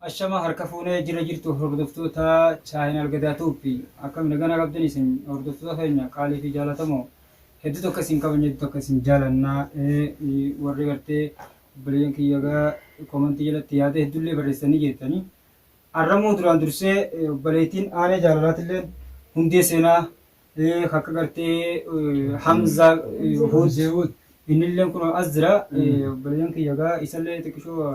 Ashama harka fuune jira jirtu hordoftoota channel gadaa tube akkam nagana qabdan isin hordoftoota keenya qaalii fi jaalatamoo hedduu tokko isin kabajna hedduu tokko isin jaalanna warri gartee obboleeyyan kiyya gaa komantii jalatti yaada hedduullee barreessanii jettanii arramuu duraan dursee obboleettiin aanee jaalalaatillee hundee seenaa akka gartee hamzaa huud innillee kun as jira obboleeyyan kiyya gaa isallee xiqqishoo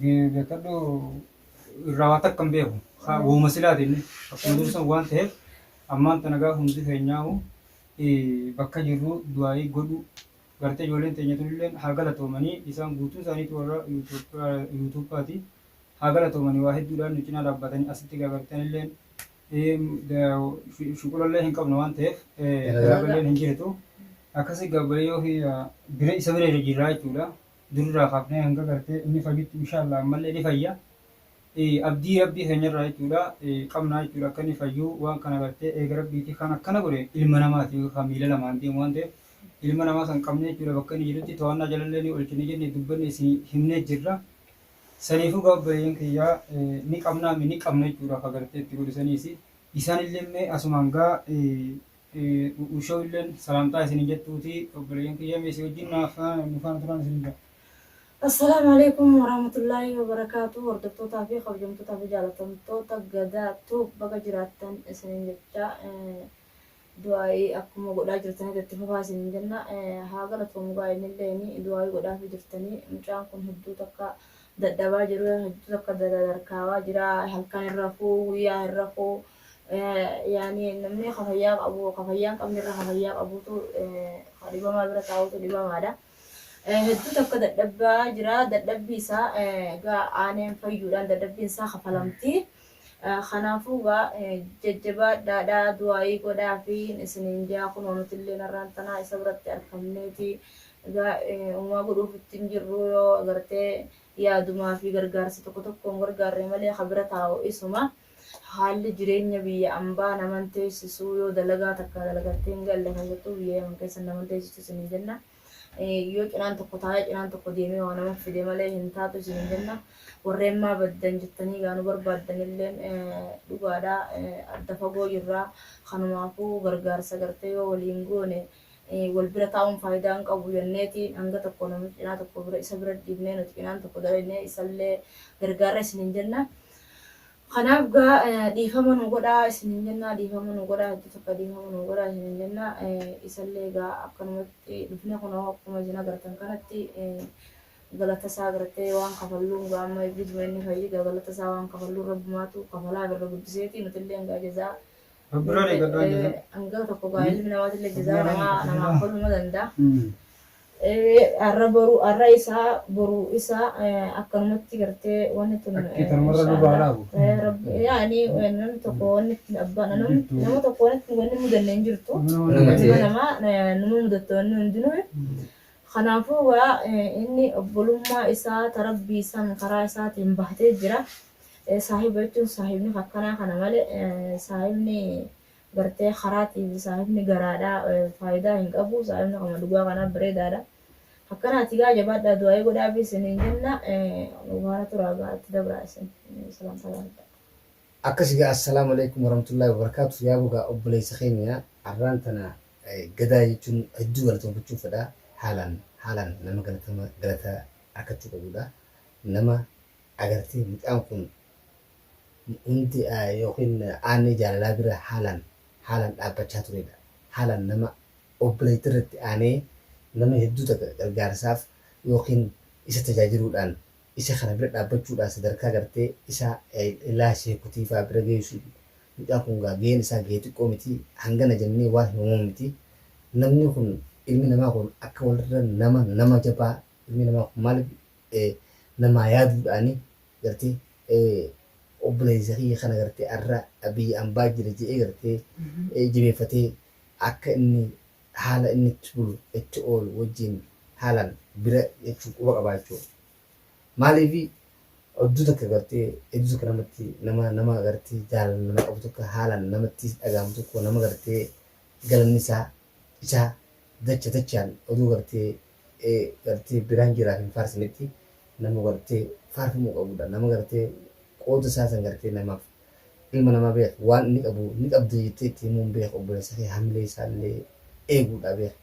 Beekadhu irraa waa takka hin beeku. Uuma silaatiin akkuma jiru san waan ta'eef ammaan tana gaafa hundi keenyaa'u bakka jirru du'aayii godhu gartee ijoolleen teenya tunillee haa galatoomanii isaan guutuu isaaniitu warra yuutuuppaati haa galatoomanii waa hedduudhaan nu cinaa dhaabbatanii asitti gaagartanillee shuqulallee hin qabnu waan ta'eef dalagalleen hin jirtu akkasii gaabbalee yoo bira isa bira irra jirraa jechuudha. Durirraa kaafnee hanga gartee inni fayyutti inshallah ammallee ni fayya. Abdii rabbii keenyarraa jechuudha qabnaa jechuudha akka inni fayyu waan kana gartee eega rabbiiti kan akkana godhe ilma namaati kan miila lamaan deemu waan ta'eef ilma namaa san qabnee jechuudha bakka inni jirutti to'annaa jalallee ni oolchine jenne dubbanne isin himnee jirra. Saniifuu gaa obboleeyyan kiyyaa ni qabnaa mi ni qabna jechuudha akka gartee itti godhu saniisi. Isaanillee mee asumaan gaa Uushoo illeen salaamtaa isini jettuuti obboleeyyan kiyya mee si wajjin naaf nu faana turaan isiniin jedha. Assalaamu Aleeykum Warahmatullaahi Wabarakaatuh Hordoftootaa fi Kabajamtootaa fi Jaalatamtoota Gadaa Tube Baga Jiraattan Isiniin Jechaa Du'aa'ii Akkuma Godhaa Jirtanitti Itti Fufaa Isiniin Jenna Haa Galatoomu Gaa Innilleen Du'aa'ii Godhaafii Jirtanii Mucaan Kun Hedduu Takka Dadhabaa Jiru Hedduu Takka Dadarkaawaa Jira Halkan Hin Rafuu Guyyaa Hin Rafuu Yaani namni ka fayyaa qabu ka fayyaa hin qabne irra ka fayyaa qabutu ka dhibamaa bira taa'utu dhibamaadha. Hedduu takka dadhabbaa jira. Dadhabbii isaa egaa aaneen fayyuudhaan dadhabbiin isaa kafalamti. Kanaafuu egaa jajjabaadhaadhaa du'aayii godhaa fi isiniin jaa kunoo nuti illee narraan tanaa isa biratti arkamneeti. Egaa uumaa godhuuf ittiin jirru yoo agartee yaadumaa fi gargaarsa tokko tokkoon gargaarre malee ka bira taa'u isuma. Haalli jireenya biyya ambaa naman teessisu yoo dalagaa takka dalagattee hin galle keessattuu biyya yaman keessa naman teessistu isiniin jenna. Yoo cinaan tokko taa'ee cinaan tokko deemee waa nama fide malee hin taatu isiniin jenna. Warreen maa baddan jettanii gaa nu barbaaddanilleen dhugaadha adda fagoo jirra. Kanumaafuu gargaarsa gartee yoo waliin goone wal bira taa'uun faayidaa hin qabu jenneeti hanga tokko namni cinaa tokko bira isa bira dhiifnee nuti cinaan tokko dalagnee isallee gargaarra isiniin jenna. Kanaaf gaa dhiifama nu godhaa isiniin jennaa dhiifama nu godhaa hedduu takka dhiifama nu godhaa isiniin jennaa isallee gaa akkanumatti dhufne kunoo akkuma isin agartan kanatti galata isaa agartee waan kafalluun gaa amma eebbisuma inni fayyida galata isaa waan kafalluun rabbumaatu kafalaa birra guddiseeti nutillee gaa jazaa Rabbirraa eeggadhaa jazaa. hanga tokko gaa ilmi namaatillee jazaa namaa namaa koluma danda'a. Ee arra boru arra isaa boru isa akkanumatti gartee wanni tun Akki tanuma irra nu baha laabu. yaani namni tokko wanni ittiin abbaa nama Jirtu. nama tokko wanni ittiin wanni mudanne hin jirtu Nama nama Nama ta'e. ilma namaa eh, nama mudatte wanni hundinuu kanaafuu egaa eh, inni obbolummaa isaa ta rabbii san karaa isaatiin bahatee jira Eh, saahiba jechuun saahibni akkanaa kana malee eh, saahibni gartee karaatiif saahibni garaadha faayidaa hin qabu saahibni kama dhugaa kanaaf bareedaadha akkanaati gaa jabaadhaa du'aa'ii godhaafii isiniin jenna nu faana turaa gaa itti dabraa isin salaam salaam Akkasi gaa assalaamu alaikum warahmatullahi wabarakatuh yaabo gaa obboleessa keenya arraan tana gadaa jechuun hedduu galatoomfachuu fedha haalaan haalaan nama galatama galata arkachuu qabudha nama agartee mucaan kun Wanti yookiin aanni jaalalaa bira haalaan haalaan dhaabbachaa turedha. Haalaan nama obboleettii irratti aanee nama hedduu takka gargaarsaaf yookiin isa tajaajiluudhaan isa kana bira dhaabbachuudhaan sadarkaa gartee isa ilaa sheekutiifaa bira geessu mucaan kun gaa gaheen isaa gahee xiqqoo miti hangana jennee waan himamu miti. Namni kun ilmi namaa kun akka walirra nama nama jabaa ilmi namaa kun maaliif namaa yaaduudhaani gartee obboleessa kiyya kana gartee arra biyya ambaa jira je'ee gartee jabeeffatee akka inni haala inni itti bulu itti oolu wajjiin haalaan bira jechuun quba qabaa jechuudha. Maaliifi odduu takka gartee hedduu takka namatti nama nama gartee jaalala nama qabu tokko haalaan namatti dhaga'amu tokko nama gartee galanni isaa isaa dacha dachaan oduu gartee gartee biraan jiraaf hin faarsinetti nama gartee faarfamuu qabudha. Nama gartee qooda isaa san gartee namaaf ilma namaa beekh waan inni qabu ni qabda jettee itti himuun beekh obboleessa kee hamilee isaa illee eeguudha beekh.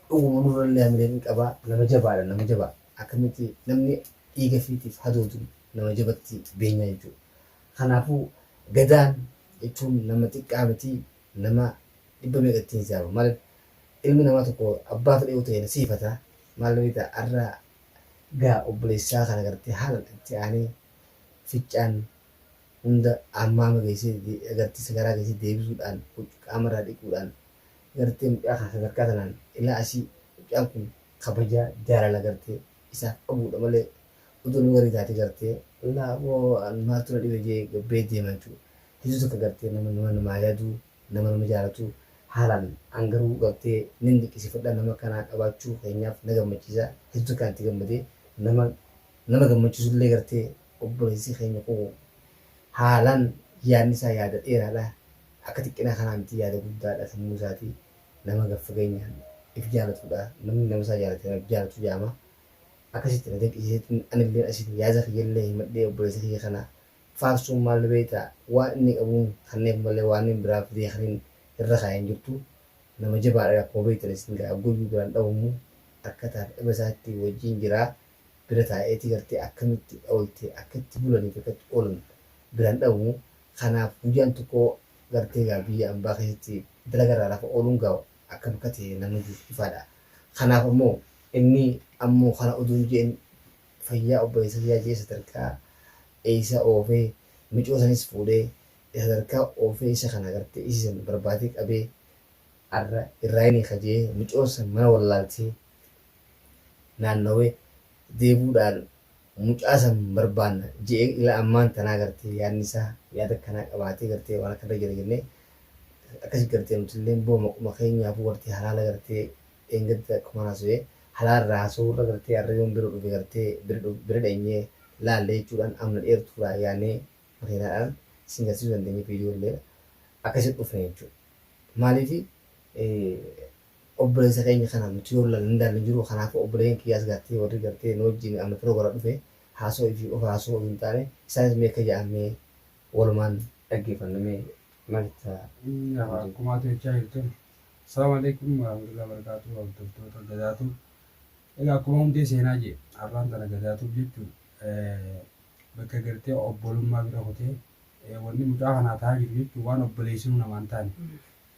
Dhuguma nurra illee hamilee ni qaba nama jabaadha nama jabaa akkamitti namni dhiiga ifiitiif hadoodu nama jabatti beenyaa jechuudha. Kanaafuu Gadaan jechuun nama xiqqaa miti nama dhibba meeqa ittiin saama maal ilmi namaa tokko abbaa fedhe yoo ta'e nasiifata maal beekta arra gaa obboleessaa kana gartee haala itti aanee ficcaan hunda ammaama geessee gartee sigaraa geessee deebisuudhaan huccuu qaamarraa dhiquudhaan gartee mucaa kana sadarkaa tanaan ilaa asii mucaan kun kabajaa jaalala gartee isaaf qabuudha malee utuu nama garii taatee gartee laa boo maaltu na dhibe jee gabbee deema jechuudha hedduu takka gartee nama nama namaa yaaduu nama nama jaalatu haalaan an garuu gartee nin diqqisifadha nama akkanaa qabaachuu keenyaaf na gammachiisa heddu akkaan itti gammade nama nama gammachisullee gartee obboleessi keenya kun haalaan yaadni isaa yaada dheeraadha akka xiqqina kanaa miti yaada guddaadha sammuu isaati nama gad fageenyaan if jaalatudha namni nama isaa jaalate nama if jaalatu jaama akkasitti na dinqisiiseetiin anilleen asiin yaada kiyyallee himadhee obboleessa kiyya kana faarsuun maal beekta waan inni qabuun kanneef malee waan inni biraa fidee kan inni irra kaa'e hin jirtu nama jabaadha akkuma beektan isin gaa guyyuu biraan dhawumu akka taate dhaba isaatti wajjiin jira bira taa'eeti gartee akkamitti ooltee akka itti bulaniif akka itti oolan biraan dhawumu kanaaf guyyaan tokko gartee gaa biyya ambaa keessatti dalaga irraa lafa ooluun gaa akkam akka ta'e namni ifaadha kanaaf ammoo inni ammoo kana oduu hin je'in fayyaa obboleessa kiyyaa jee sadarkaa eeysa oofee micoo sanis fuudhee sadarkaa oofee isa kana gartee isii san barbaadee qabee arra irraa ini kajee micoon san mana wallaaltee naannawee deebuu dhaan mucaa san barbaanna je'ee ila ammaan tanaa gartee yaadni isaa yaada akkanaa qabaatee gartee waan akkanarra jira jennee akkasi gartee nutilleen boo maquma keenyaafuu gartee halaala gartee dheengadda akkuman haso'e halaa irraa haso'urra gartee arra yoon biro dhufe gartee bira dheenyee laalle jechuudhaan amna dheertuudhaa yaanee makiinaadhaan isin garsiisuu dandeenye video illee akkasitti dhufne jechuudha maaliifi obboleessa keenya kana nuti yoo laalle hin daalle hin jiru kanaafuu obboleeyyan kiyyaas gartee warri gartee nu wajjin amna firoo gara dhufe haasoo fi of haasoo osoo hin taane isaanis mee akka ja'an mee walumaan dhaggeeffanna mee maal itti Akkuma ati jechaa jirtun. Assalaamu Aleeykum Warahamatullaah Barakaatu Hordoftoota Gadaa Tube Egaa akkuma hundee seenaa jee arraan tana Gadaa Tube jechuun bakka gartee obbolummaa bira kutee wanni mucaa kanaa ta'aa jiru jechuun waan obboleessinuu namaan taane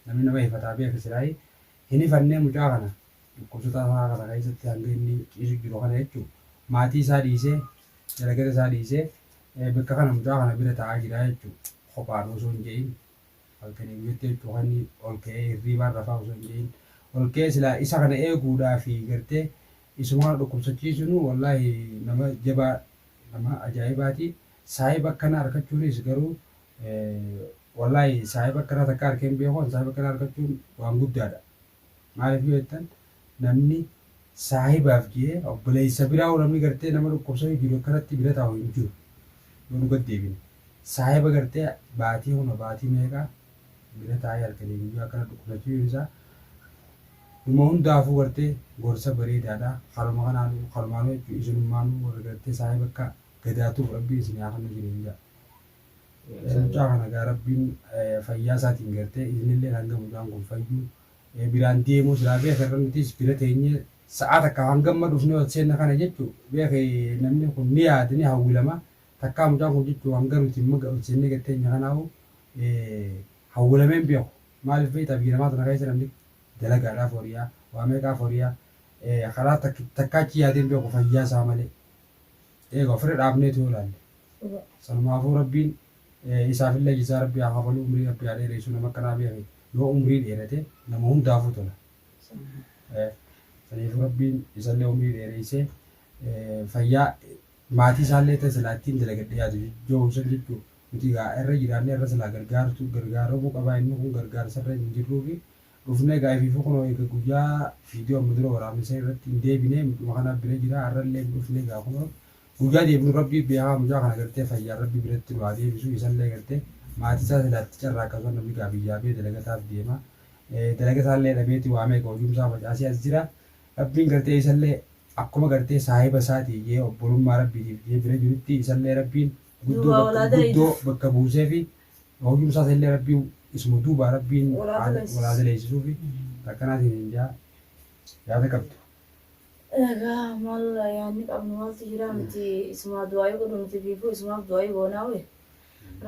namni nama hifataa beeka siraayi hin hifannee mucaa kana dhukkubsataa isaa kana keessatti hanga inni ciisu jiru kana jechuun maatii isaa dhiisee dalagata isaa dhiisee bakka kana mucaa kana bira ta'aa jira jechuun kophaan osoo hin je'in Halkanii guyyaatti jechuun kan ol ka'ee hirriibaan rafaa osoo hin jedhin ol ka'ee silaa isa kana eeguudhaa fi gartee isuma kana dhukkubsachiisuun wallaahi nama jabaa nama ajaa'ibaati. Saahiba akkana arkachuunis garuu wallaahi saahiba akkana takka arkee hin beeku saahiba akkana arkachuun waan guddaadha. Maaliif yoo jettan namni saahibaaf jee obboleessa biraahu namni gartee nama dhukkubsatu jiru akkanatti bira taa'u hin jiru. Yoo nu gad deebine saahiba gartee baatii huna baatii meeqa bira taa'ee halkanii guyyaa akkana dhukkubsachuun isaa dhuma hundaafuu gartee gorsa bareedaadha. Haruma kanaan harumaanuu jechuun isinummaanuu warri gartee saahiba akka gadaatuuf rabbiin isin haa kennu isiniin jedha. Mucaa kana gaa rabbiin fayyaa isaatiin gartee isinilleen hanga mucaan kun fayyu biraan deemuu silaa beeke irra nutiis bira teenye sa'aa takkaaf hangamma dhufne ol seenna kana jechu beeke namni kun ni yaada ni hawwilama takkaa mucaan kun jechu hanga nuti imma ol seennee gad teenye kanaahu hawwilamee hin beeku maaliif beektaa biyya namaa tana keessa namni dalagaadhaaf horiyaa waa meeqaaf horiyaa karaa takka takkaa achi yaadee hin beeku fayyaa isaa malee. Eega ofirra dhaabneeti yoo ilaalle. Sanumaafuu Rabbiin isaafillee jazaa Rabbii haa kafaluu umrii Rabbii haa dheereessuu nama akkanaa beekhe yoo umrii dheerate nama hundaafuu tola. Saniifuu Rabbiin isallee umrii dheereessee fayyaa maatii isaallee ta'e silaa ittiin dalagadhe yaadu jijjoohu san jechuu nuti egaa irra jiraannee irra silaa gargaartu gargaaramuu qabaa inni kun gargaarsarra hin jirruufi Dhufne egaa ifiifuu kunoo eega guyyaa video amma dura waraabne san irratti hin deebine mudhuma kanaaf bira jira har'allee hin dhufne egaa kunoo guyyaa deebinu rabbii beekaa mucaa kana gartee fayyaan rabbi biratti nu haa deebisu isallee gartee maatii isaa silaa itti carraaqqatu kan namni gaa biyyaa bee dalagataaf deema dalaga isaallee dhabeeti waa meeqa hojiin isaa facaasee as jira rabbiin gartee isallee akkuma gartee saahiba isaati jee obbolummaa rabbiitiif jee bira jirutti isallee rabbiin guddoo Duubaa bakka olaa guddoo da'idu. bakka buusee fi Hojii usaa saillee rabbiin isuma duubaa rabbiin walaa daleessisuufi takkanaatiin hin jaa yaada qabdu. Egaa maal yaanni qabnu maaltu jira nuti isumaa du'aa'ii godhu nuti biifuu isumaaf du'aa'ii goonaa wee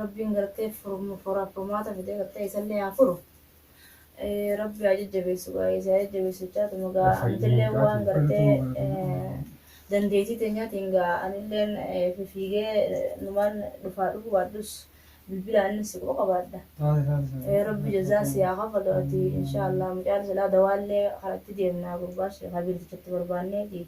rabbiin gartee furmaata fidee gartee isallee haa furu. Rabbi haa jajjabeessu gaa eessaa jajjabeessu jechaatuma gaa antillee waan gartee dandeettii teenyaatiin gaa anilleen fifiigee numaan dhufaa dhufu baadhus bilbila annis si quba qabaadha. Rabbi jazaa si haa kafalu ati inshaa Allah mucaan silaa dawaallee karatti deemna gurbaa sheekaa biirtichatti barbaanneeti.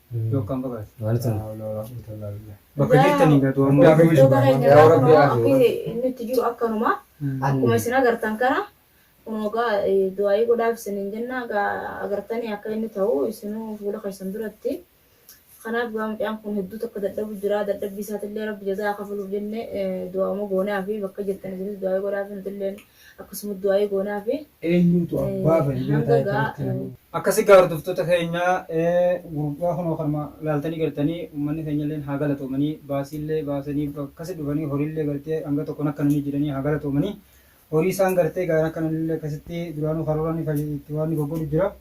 Yookaan bagaas. Maaltu Laa hawla walaa quwwata illaa billah. Bakka jirtanii gatu Dhugaa ammoo. keenya. Dhugaa keenya Yaa Rabbi, akkanuma yaa Rabbi. akkuma inni itti jiru akkanuma akkuma isin agartan kana kunoo gaa eh, du'aa'ii godhaaf isiniin jenna gaa agartanii akka inni ta'u isinuu fuula keessan duratti kanaaf gaa mucaan kun hedduu tokko dadhabu jira dadhabbii isaatillee rabbi jazaa kafaluuf jenne eh, du'aa'uma goonaa fi bakka jirtan isinis du'aa'ii godhaaf nutillee akkasuma du'aa'ii goonaafi. Eenyuutu abbaa fa'i beetaa hanga jettanii itti gaa. himuu. Akkasi gaa hordoftoota keenya gurbaa kunoo kanuma laaltanii gartanii ummanni keenyalleen haa galatoomanii baasiillee baasanii akkasi dhufanii horiillee gartee hanga tokko nakkananii jiranii haa galatoomanii horii isaan gartee gaa nakkananillee akkasitti duraanuu karooraan itti waan goggolu jira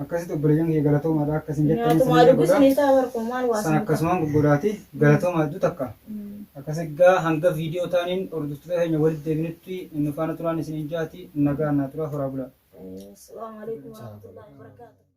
Akkasitti obboleeyyan kiyya galatoomaadha akka isin jettan Nyaatumaa isin dubbisu godha. ni ta'a barkuma maal waa Isaa sin akkasumaan guggodaati galatoomaa hedduu takka. Mm. Akkas egaa hanga viidiyoo taaniin hordoftoota keenya walitti deebinutti nu faana turaan isiniin jaati nagaa naa turaa horaa bulaa. Assalamu alaikum warahmatullahi wabarakatuh.